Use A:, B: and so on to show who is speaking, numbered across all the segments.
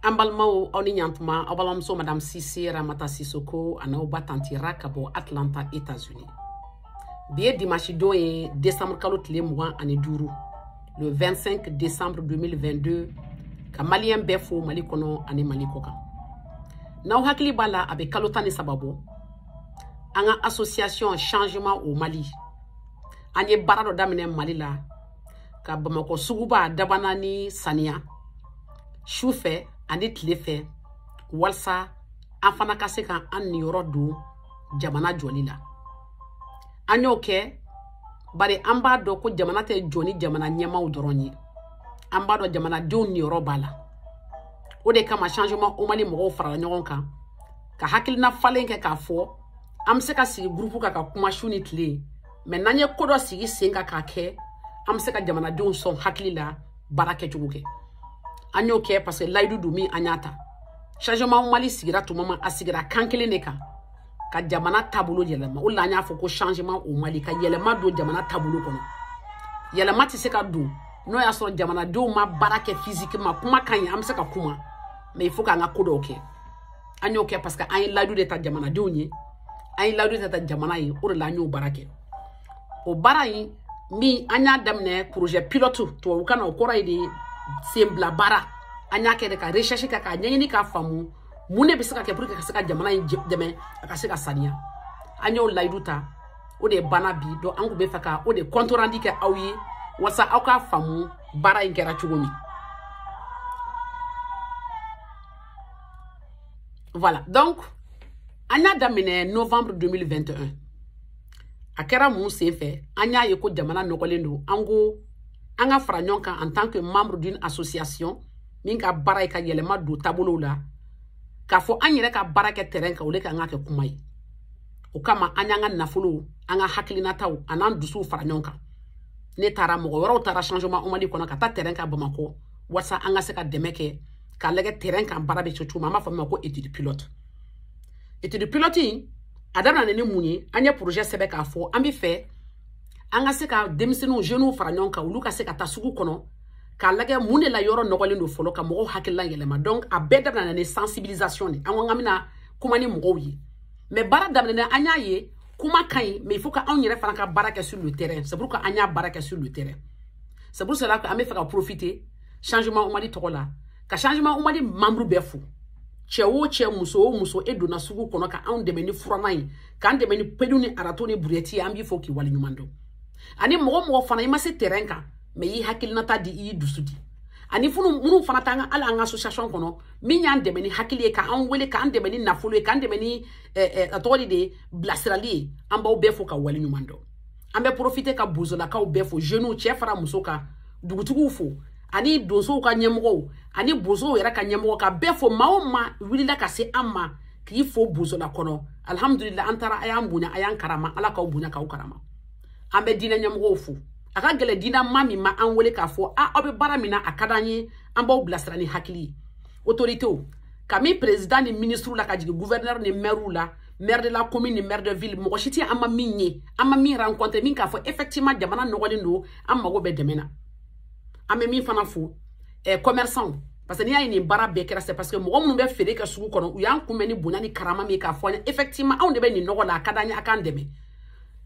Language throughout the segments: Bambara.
A: an balimaw aw ni ɲantuma aw balimamuso madame sise ramata sisoko an'aw ba tanti ra ka bɔ atlanta états-unis bi ye dimanche don ye décembre kalo tile mugan ani duuru le 25 décembre 2022 ka maliyɛn bɛɛ fo mali kɔnɔ ani mali kɔ kan n'aw hakili b'a la a bɛ kalo tan ni saba bɔ an ka association changement au mali an ye baara dɔ daminɛ mali la ka bamakɔ suguba dabana ni saniya su fɛ ani tile fɛ walasa an fana ka se ka an niyɔrɔ don jamana jɔli la an y'o kɛ bari an b'a dɔn ko jamana tɛ jɔ ni jamana ɲɛmaaw dɔrɔn ye an b'a dɔn jamanadenw niyɔrɔ b'a la o de kama changement au mali mɔgɔw farala ɲɔgɔn kan ka hakilina falen kɛ k'a fɔ an bɛ se ka sigi gurupu kan ka kuma su ni tile mais n'an ye ko dɔ sigi sen kan k'a kɛ an bɛ se ka jamanadenw sɔn hakili la baara kɛcogo kɛ an y'o kɛ parce que layidu don min an y'a ta changement au mali sigira tuma ma a sigira kan kelen de kan ka jamana taabolo yɛlɛma o la an y'a fɔ ko changement au mali ka yɛlɛma don jamana taabolo kɔnɔ yɛlɛma tɛ se ka don n'o y'a sɔrɔ jamanadenw ma baara kɛ physiquement kuma ka ɲi an bɛ se ka kuma mais il faut k'an ka ko dɔw kɛ an y'o kɛ parce que an ye layidu de ta jamanadenw ye an ye layidu de ta jamana ye o de la an y'o baara kɛ o baara in min an y'a daminɛ projet pilote tubabukan na o kɔrɔ ye de senbila baara an y'a kɛ de ka recherche kɛ k'a ɲɛɲini k'a faamu mun de bɛ se ka kɛ pour que ka se ka jamana in dɛmɛ a ka se ka saniya an y'o layidu ta o de banna bi donc an tun bɛ fɛ ka o de compte rendu kɛ aw ye walasa aw k'a faamu baara in kɛra cogo min voilà donc an y'a daminɛ novembre 2021 a kɛra mun sen fɛ an y'a ye ko jamana nɔgɔlen don an ko an ka fara ɲɔgɔn kan en tant que membre d'une association min ka baara ye ka yɛlɛma don taabolow la k'a fɔ an yɛrɛ ka baara kɛ terrain kan au lieu k'an k'a kɛ kuma ye o kama an y'an ka nafolow an ka hakilinataw an'an dusuw fara ɲɔgɔn kan ne taara mɔgɔ wɛrɛw taara changement au mali kɔnɔ ka taa terrain kan bamakɔ walisa an ka se ka dɛmɛ kɛ k'a lagɛ terrain kan baara bɛ kɛ cogo min an b'a fɔ min ma ko étude pilote étude pilote in a daminɛna ni mun ye an ye projet sɛbɛn k'a fɔ an bɛ fɛ an ka se ka denmisɛnninw jeunes fara ɲɔgɔn kan olu ka se ka taa sugu kɔnɔ k'a lagɛ mun de la yɔrɔ nɔgɔlen don fɔlɔ ka mɔgɔw hakilila yɛlɛma donc a bɛɛ daminɛna ni sensibilisation de ye an ko an ka bɛna kuma ni mɔgɔw ye mais baara daminɛna an y'a ye kuma ka ɲi mais il faut que anw yɛrɛ fana ka baara kɛ sur le terrain c'est pourquoi an y'a baara kɛ sur le terrain c'est pour cela que an bɛ fɛ ka profiter changement au mali tɔgɔ la ka changement au mali membre bɛɛ fo cɛ o cɛ muso o muso e donna sugu kɔnɔ ka anw dɛmɛ ni furannan ye k'an dɛmɛ ni pelu ni arato ni burɛti ye an b'i fo k'i wale ɲuman dɔn ani mɔgɔ o mɔgɔ fana i ma se terrain kan mɛ i y'i hakilinata di i y'i dusu di ani funu minnu fana t'an ka hali an ka association kɔnɔ min y'an dɛmɛ ni hakili ye k'an wele k'an dɛmɛ ni nafolo ye k'an dɛmɛ ni a tɔgɔ de ye bilasirali ye an b'aw bɛɛ fo k'aw wale ɲuman dɔn an bɛ porofite ka bozolakaw bɛɛ fo jeunes cɛ fara muso kan dugutigiw fo ani donsow ka ɲɛmɔgɔw ani bozow yɛrɛ ka ɲɛmɔgɔ ka bɛɛ fo maa o maa wulila ka se an ma k'i fo bozola kɔnɔ alihamudulila an taara a y'an bonya a y'an karama ala k'aw bonya k'aw karama an bɛ diinɛ ɲɛmɔgɔw fo a ka gɛlɛn diinɛmaa min ma an wele k'a fɔ a aw bɛ baara min na a ka d'an ye an b'aw bilasira ni hakili ye otoritew k'a minɛ perezidan ni minisiriw la ka jigin guvɛrinɛri ni mɛriw la maire de la commune ni maire de ville mɔgɔ si tɛ an ma min ye an ma min rencontre min k'a fɔ effectivement jamana nɔgɔlen don an mago bɛ dɛmɛ na an bɛ min fana fo eh, commerçant parce que n'i y'a ye nin baara bɛɛ kɛra c'est parce que mɔgɔ minnu bɛ feere kɛ sugu kɔnɔ u y'an kunbɛn ni bonya ni karama min ye k'a fɔ an ye effectivement anw de bɛ nin nɔgɔ la a ka d'an ye a k'an dɛmɛ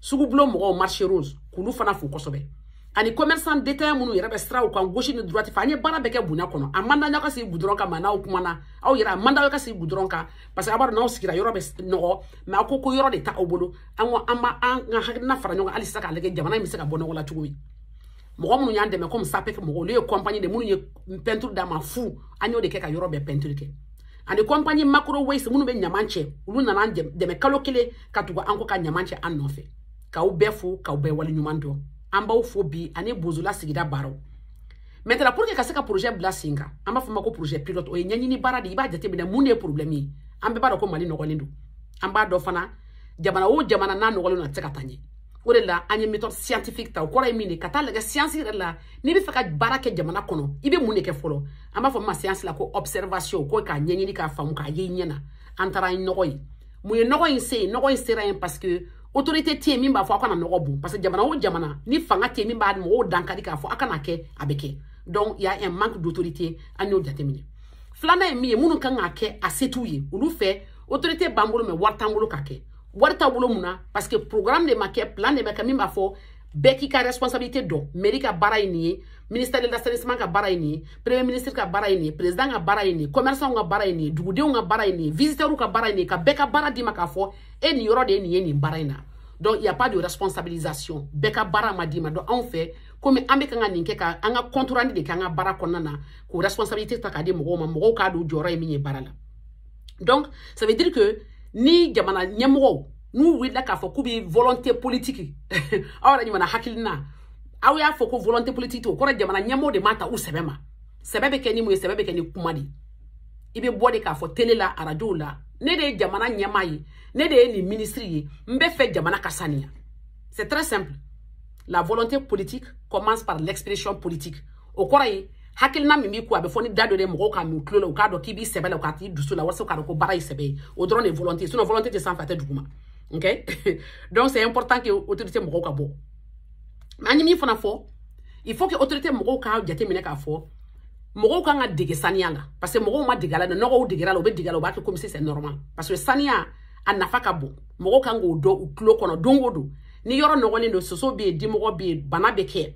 A: sugubulon mɔgɔw marché rose k'olu fana fo kosɛbɛ ani commerçant détaillant minnu yɛrɛ bɛ siraw kan gauche ni droite fɛ an ye baara bɛɛ kɛ bonya kɔnɔ a man d'an ye aw ka sigi gudɔrɔn kan mɛ n'aw kumana aw yɛrɛ a man d'aw ye aw ka sigi gudɔrɔn kan parce que a b'a dɔn n'aw sigira yɔrɔ bɛ nɔgɔ mɛ a ko ko yɔrɔ de t'aw bolo an ko an b'an ka hakilina fara ɲɔgɔn kan hali sisan k'a lajɛ jamana in bɛ se ka bɔ nɔgɔ la cogo min mɔgɔ minnu y'an dɛmɛ komi sapec mɔgɔw olu ye kɔnpani de minnu ye pɛntiri d'an ma fu an y'o de kɛ ka yɔrɔ bɛɛ pɛntiri kɛ ani kɔnpani macrowaste minnu bɛ ɲaman cɛ olu nana an dɛmɛ kalo kelen ka tugu an kɔ ka ɲaman cɛ an nɔfɛ k'aw bɛɛ fo k'aw bɛɛ waleɲuman dɔn an b'aw fo bi ani bozola sigida baaraw maintenant pour que ka se ka projet bila sen kan an b'a fɔ a ma ko projet pilote o ye ɲɛɲini baara de ye i b'a jateminɛ mun de ye problème ye an bɛɛ b'a dɔn ko mali nɔgɔlen don an b'a dɔn fana jamana o jamana n'a nɔgɔlen don a tɛ se ka taa ɲɛ o de la an ye méthode scientifique ta o kɔrɔ ye min ye ka taa a lajɛ siyansi yɛrɛ la n'i bɛ fɛ ka baara kɛ jamana kɔnɔ i bɛ mun de kɛ fɔlɔ an b'a fɔ min ma siyansi la ko observation ko k'a ɲɛɲini k'a faamu k'a ye i ɲɛ na an taara an ye nɔgɔ ye mun ye nɔgɔ in se yen nɔgɔ in sera yen parce que autorité tɛ yen min b'a fɔ aw kana nɔgɔ bon parce que jamana o jamana ni fanga tɛ yen min bɛ mɔgɔw dankari k'a fɔ aw kan'a kɛ a bɛ kɛ donc y'a un manque d'autorité an y'o jateminɛ filanan ye min ye minnu kan k'a kɛ a se t'u ye olu fɛ autorité b'an bolo mɛ wari t'an bolo k'a kɛ wari t'a bolo mun na parce que programme de ma kɛ plan de ma kɛ min b'a fɔ bɛɛ k'i ka responsabilité dɔn mairie ka baara ye nin ye ministère de l'assainissement ka baara ye nin ye premier ministre ka baara ye nin ye président ka baara ye nin ye commerçant ka baara ye nin ye dugudenw ka baara ye nin ye visiteurs ka baara ye nin ye ka bɛɛ ka baara d'i ma k'a fɔ e nin yɔrɔ de ye nin ye nin baara in na donc il y a pas de responsabilisation bɛɛ ka baara ma d'i ma donc anw fɛ komi an bɛ kan ka nin kɛ ka an ka contraire de kɛ an ka baara kɔnɔna na k'o responsabilité ta k'a di mɔgɔw ma mɔgɔw k'a dɔn jɔyɔrɔ ye min ye baara la donc ça veut dire que ni jamana ɲɛmɔgɔw n'u wulila k'a fɔ k'u bɛ volonté politique aw yɛrɛ ɲumanna hakilina aw y'a fɔ ko volonté politique o kɔrɔ jamana ɲɛmɔgɔw de m'a ta u sɛbɛ ma sɛbɛ bɛ kɛ ni mun ye sɛbɛ bɛ kɛ ni kuma de ye i bɛ bɔ de k'a fɔ tele la arajow la ne de ye jamana ɲɛmaa ye ne de ye nin minisiri ye n bɛ fɛ jamana ka saniya c'est très simple la volonté politique commence par l'expression politique o kɔrɔ ye hakilina min b'i kun a bɛ fɔ ni da dɔ de ye mɔgɔw k'a mɛn u tulo la u k'a dɔn k'i b'i sɛbɛ la u k'a t'i dusu la walasa u k'a dɔn ko baara ye sɛbɛ ye o dɔrɔn de ye volonté ye sinon volonté tɛ sanfɛ a tɛ duguma ok donc c'est important que autorité mɔgɔw ka bɔ mais an ye min fana fɔ il faut que autorité mɔgɔw k'a jateminɛ k'a fɔ mɔgɔw kan ka dege saniya la parce que mɔgɔw ma dege a la nɔgɔ u degera a la u bɛ dege a la u b'a kɛ comme si c'est normal parce que saniya a nafa ka bon mɔgɔw kan k'o don u tulo kɔnɔ don o don ni yɔrɔ nɔgɔlen don soso bɛ yen dimɔgɔ bɛ yen bana bɛ kɛ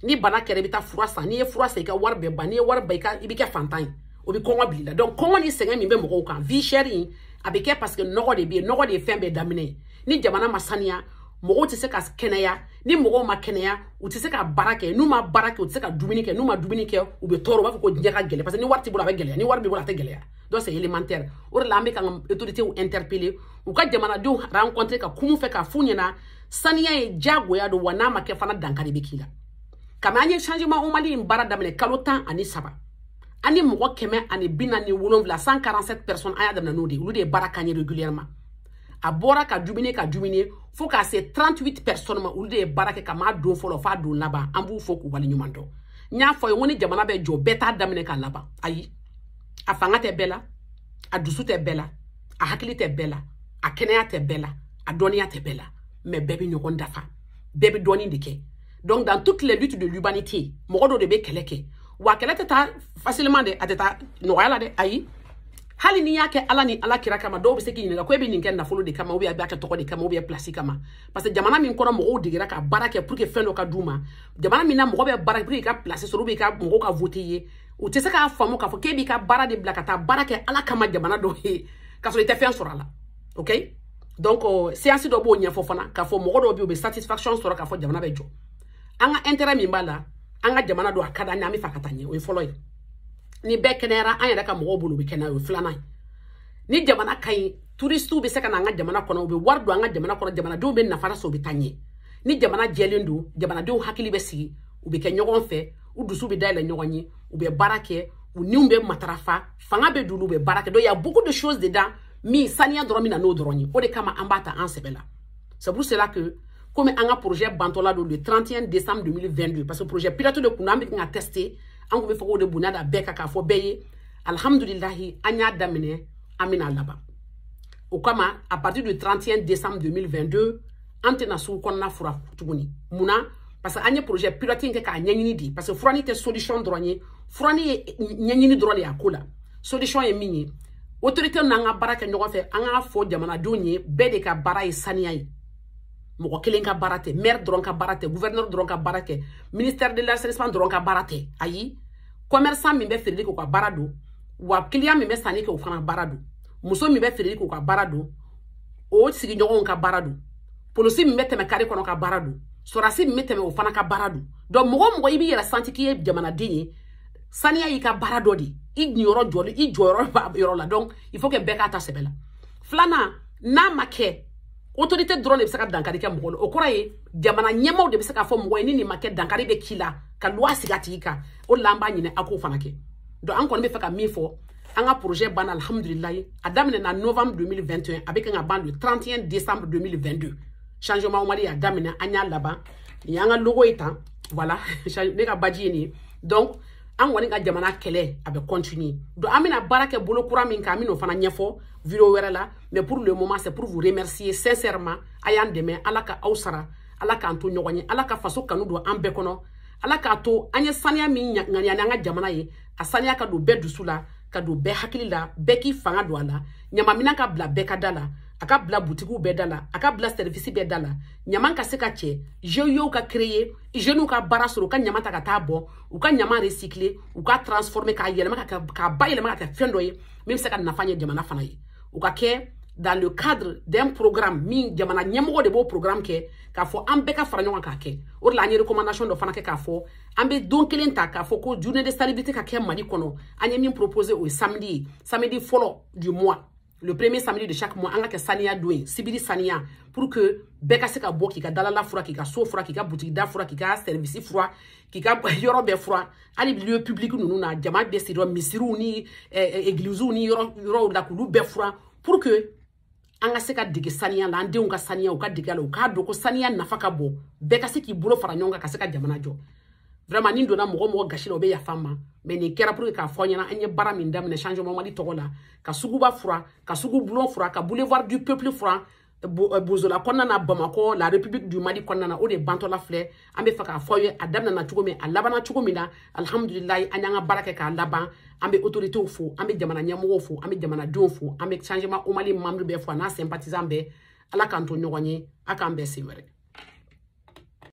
A: ni bana kɛra i bɛ taa fura san n'i ye fura san i ka wari bɛ ban n'i ye wari ban i ka i bɛ kɛ faantan ye o bɛ kɔngɔ bila i la donc kɔngɔ ni sɛgɛn min bɛ mɔgɔw kan vie chère in a bɛ kɛ parce que nɔgɔ de bɛ yen nɔgɔ de ye fɛn bɛɛ daminɛ ye ni jamana ma saniya mɔgɔw tɛ se ka kɛnɛya ni mɔgɔw ma kɛnɛya u tɛ se ka baara kɛ n'u ma baara kɛ u tɛ se ka dumuni kɛ n'u ma dumuni kɛ u bɛ tɔɔrɔ u b'a fɔ ko diɲɛ ka gɛlɛn parce que ni wari t'i bolo a bɛ gɛlɛya ni wari b'i bolo a tɛ gɛlɛya donc c'est élémentaire o de la an bɛ ka an ka autoritéw interpeller u ka jamanadenw rencontrer ka kum'u fɛ k'a f'u ɲɛna saniya ye diyagoya don wa n'a ma kɛ fana dankari bɛ k'i la kabini an ye changement au Mali in baara daminɛ kalo tan ani saba an ni mɔgɔ kɛmɛ ani bi naani ni wolonwula 147 personnes an y'a daminɛ n'o de ye olu de ye baara k'an ye régulièrement a bɔra ka diminuer ka diminuer fo k'a se 38 personnes ma olu de ye baara kɛ kabini don fɔlɔ f'a don laban an b'u fo k'u wale ɲuman dɔn n y'a f'u ye ko ni jamana bɛ jɔ bɛɛ t'a daminɛ k'a laban ayi a fanga tɛ bɛɛ la a dusu tɛ bɛɛ la a hakili tɛ bɛɛ la a kɛnɛya tɛ bɛɛ la a dɔnniya tɛ bɛɛ la mais bɛɛ bɛ ɲɔgɔn dafa bɛɛ bɛ dɔɔni de kɛ donc dans toutes les luttes de l'humanité mɔgɔ dɔ de bɛ kɛlɛ kɛ wa kɛlɛ tɛ taa facilement dɛ a tɛ taa nɔgɔya la dɛ ayi hali n'i y'a kɛ ala ni ala kira kama dɔw bɛ se k'i ɲininka ko e bɛ nin kɛ nafolo de kama ou bien a b'a kɛ tɔgɔ de kama ou bien pilasi kama parce que jamana min kɔnɔ mɔgɔw degera ka baara kɛ pour que fɛn dɔ ka d'u ma jamana min na mɔgɔ bɛ baara kɛ pour que i ka pilasi sɔrɔ ou bien i ka mɔgɔw ka voter i ye u tɛ se k'a faamu k'a fɔ k'e b'i ka baara de bila ka taa baara kɛ ala kama jamanadenw ye k'a sɔrɔ i tɛ fɛn sɔrɔ a la ok donc euh, science dɔ b'o ɲɛfɔ fana k'a fɔ mɔgɔ dɔw bɛ yen u bɛ satisfaction sɔrɔ k'a fɔ jamana bɛ jɔ an ka intérêt min b'a la an ka jamana don a ka d'an ye an bɛ fɛ a ka taa ɲɛ o ye fɔlɔ ye ni bɛɛ kɛnɛyara an yɛrɛ ka mɔgɔw bolo bɛ kɛnɛya o ye filanan ye ni jamana ka ɲi turisiw bɛ se ka na an ka jamana kɔnɔ u bɛ wari don an ka jamana kɔnɔ jamanadenw bɛ nafa sɔrɔ u bɛ taa ɲɛ ni jamana jɛlen don jamanadenw hakili bɛ sigi u bɛ kɛ ɲɔgɔn fɛ u dusu bɛ dayɛlɛ ɲɔgɔn ye u bɛ baara kɛ u niw bɛ matarafa fanga bɛ don u la u bɛ baara kɛ donc il y a beaucoup de choses dedans min saniya dɔrɔn bɛ na n'o dɔrɔn ye o de kama an b'a ta an sɛbɛ la c'est pour cela que komi an ka projet bantɔla don le 31 décembre 2022 parce que projet pilote de kun don an bɛ ka tester an kun bɛ fɛ k'o de bonya da bɛɛ kan k'a fɔ bɛɛ ye alihamudulilahi an y'a daminɛ an bɛn'a laban o kama à partir du 31 décembre 2022 an tɛna sugu kɔnɔna fura tuguni mun na parce que an ye projet pilote in kɛ k'a ɲɛɲini de parce que furani tɛ solution dɔrɔn ye furani ye ɲɛɲini dɔrɔn de y'a ko la solution ye min ye autorité n'an ka baara kɛ ɲɔgɔn fɛ an k'a fɔ jamanadenw ye bɛɛ de ka baara ye saniya ye mɔgɔ kelen ka baara tɛ maire dɔrɔn ka baara tɛ gouverneur dɔrɔn ka baara tɛ ministère de l'assainissement dɔrɔn ka baara tɛ ayi commerçant min bɛ feereli kɛ o ka baara don wa client min bɛ sanni kɛ o fana baara don muso min bɛ feereli kɛ o ka baara don o sigiɲɔgɔnw ka baara don polisi min bɛ tɛmɛ kare kɔnɔ ka baara don sɔrɔdasi min bɛ tɛmɛ o fana ka baara don donc mɔgɔ o mɔgɔ i b'i yɛrɛ santi k'i ye jamanaden ye saniya y'i ka baara dɔ de ye i niyɔrɔ jɔli i jɔyɔrɔ b'a yɔrɔ la donc il faut que bɛɛ k'a ta sɛbɛ la filanan n'a ma kɛ autorité dɔrɔn de bɛ se ka dankari kɛ mɔgɔ la o kɔrɔ ye jamana ɲɛmaaw de bɛ se k'a fɔ mɔgɔ ye ni nin ma kɛ dankari bɛ k'i la ka luwa sigi a tigi kan o de la an b'a ɲini a k'o fana kɛ donc an kɔni bɛ fɛ ka min fɔ an ka projet banna alhamdulilayi a daminɛna novembre 2021 a bɛ kan ka ban le 31 décembre 2022 changement mali y'a daminɛ an y'a laban nin y'an ka logo ye tan voilà ne ka baji ye nin ye donc an kɔni ka jamana kɛlɛ a bɛ continuer donc an bɛna baara kɛ bolo kura min kan an bɛn'o fana ɲɛfɔ video wɛrɛ la mais pour le moment c'est pour vous remercier sincèrement a y'an dɛmɛ ala ka aw sara ala k'an to ɲɔgɔn ye ala ka faso kanu don an bɛɛ kɔnɔ ala k'a to an ye saniya min ŋaniya an ka jamana ye a saniya ka don bɛɛ dusu la ka don bɛɛ hakili la bɛɛ k'i fanga don a la ɲamanminɛn ka bila bɛɛ ka da la a ka bila butigiw bɛɛ da la a ka bila service bɛɛ da la ɲaman ka se ka cɛ GIEw ka créer jeunew ka baara sɔrɔ u ka ɲaman ta ka taa bɔn u ka ɲaman recycler u k'a transformer k'a yɛlɛma k'a bayɛlɛma ka kɛ fɛn dɔ ye min bɛ se ka nafa ɲɛ jamana fana ye o ka kɛ dans le cadre d'un programme min jamana ɲɛmɔgɔ de b'o programme kɛ k'a fɔ an bɛɛ ka fara ɲɔgɔn k'a kɛ o de la an ye recommandation dɔ fana kɛ k'a fɔ an bɛ don kelen ta k'a fɔ ko journée de salubrité ka kɛ mali kɔnɔ an ye min proposer o ye samedi ye samedi fɔlɔ du mois le premier samedi de chaque mois an ka kɛ saniya don ye sibiri saniya pour que bɛɛ ka se ka bɔ k'i ka dalala fura k'i ka so fura k'i ka butigi da fura k'i ka service fura k'i ka yɔrɔ bɛɛ fura hali lieu public ninnu na jama bɛ sigi misiriw ni egliziw ni yɔrɔw la k'olu bɛɛ furan pour que an ka se ka dege saniya la an denw ka saniya u ka dege la u k'a dɔn ko saniya nafa ka bon bɛɛ ka se k'i bolo fara ɲɔgɔn kan ka se ka jamana jɔ vraiment ni n donna mɔgɔ mɔgɔ gasi la o bɛ yafa n ma mais nin kɛra pour que k'a fɔ aw ɲɛna an ye baara min daminɛ changement mali tɔgɔ la ka suguba fura ka sugu bulon fura ka boulevard du peuple fura euh, bozola kɔnɔna na bamakɔ la république du mali kɔnɔna na o de bantɔla filɛ an bɛ fɛ k'a fɔ aw ye a daminɛna cogo min a labanna cogo min na alihamudulilayi an y'an ka baara kɛ k'a laban an bɛ autoritéw fo an bɛ jamana ɲɛmɔgɔw fo an bɛ jamanadenw fo an bɛ changement au mali membre bɛɛ fo a n'a sympathisant bɛɛ ala k'an to ɲɔgɔn ye a k'an bɛn sen wɛrɛ